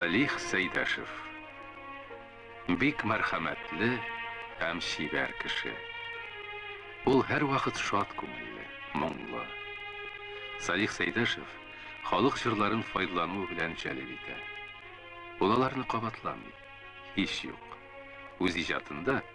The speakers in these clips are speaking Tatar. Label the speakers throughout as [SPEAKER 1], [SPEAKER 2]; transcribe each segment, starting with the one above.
[SPEAKER 1] Лих Сәйдәшев. Бик мәрхәмәтле һәм чибәр кеше. Ул һәрвакыт шат күңелле, моңлы. Салих Сәйдәшев халык җырларын файдлану белән җәлеп итә. Ул аларны кабатламый. Һич юк. Үз иҗатында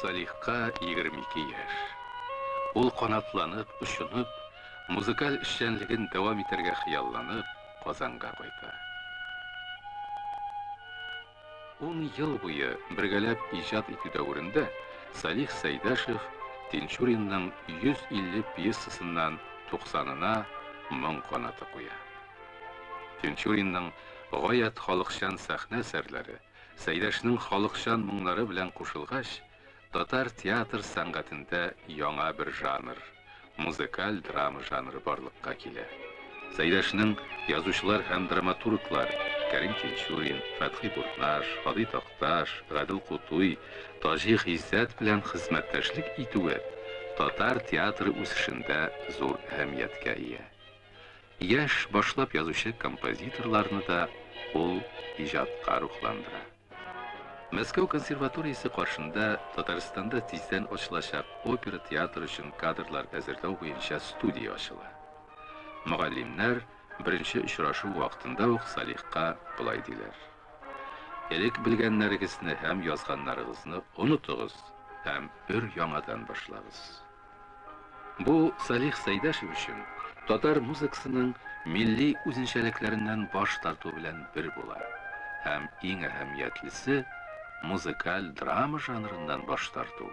[SPEAKER 1] Салихка егерме ике яшь. Ул канатланып, очынып, музыкаль эшчәнлеген дәвам итәргә хыялланып, Казанга кайта. Ун ел буе бергәләп иҗат итү дәверендә Салих Сәйдәшев Тинчуринның 150 пьесасыннан 90-ына моң канаты куя. Тинчуринның гаять халыкчан сәхнә әсәрләре, Сәйдәшнең халыкчан моңнары белән кушылгач, татар театр сәнгатендә яңа бер жанр, музыкаль драма жанры барлыкка килә. Сәйдәшнең язучылар һәм драматурглар Кәрим Тинчурин, Фәтхи Бурнаш, Һади Такташ, Гадел Кутуй, Таҗи Гыйззәт белән хезмәттәшлек итүе татар театры үсешендә зур әһәмияткә ия. Яшь, башлап язучы композиторларны да ул иҗатка рухландыра. Мәскәү консерваториясе каршында Татарстанда тиздән ачылачак опера театр өчен кадрлар әзерләү буенча студия ачыла. Мөгаллимнәр беренче очрашу вакытында ук Салихка болай диләр. Элек белгәннәрегезне һәм язганнарыгызны онытыгыз һәм өр яңадан башлагыз. Бу Салих Сәйдәшев өчен татар музыкасының милли үзенчәлекләреннән баш тарту белән бер була. Һәм иң әһәмиятлесе, музыкаль драма жанрыннан баш тарту.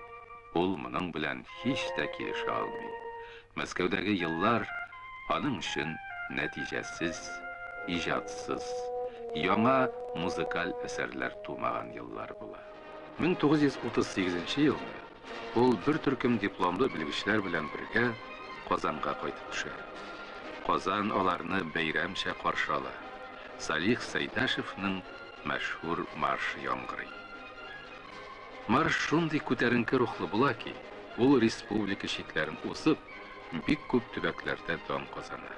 [SPEAKER 1] Ул моның белән һич тә килешә алмый. Мәскәүдәге еллар аның өчен нәтиҗәсез, иҗатсыз, яңа музыкаль әсәрләр тумаган еллар була. 1938 елны Ул бер төркем дипломлы белгечләр белән бергә Казанга кайтып төшә. Казан аларны бәйрәмчә каршы ала. Салих Сәйдәшевнең мәшһүр маршы яңгырый. Марш шундый күтәренке рухлы була ки, ул республика чикләрен узып, бик күп төбәкләрдә дан казана.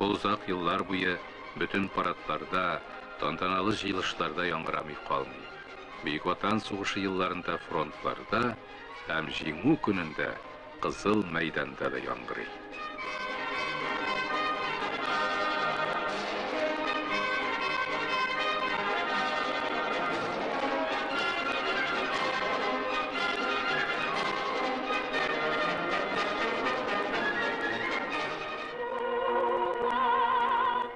[SPEAKER 1] Ул озак еллар буе бөтен парадларда, тантаналы җыелышларда яңгырамый калмый. Бөек Ватан сугышы елларында фронтларда һәм Җиңү көнендә Кызыл мәйданда да яңгырый.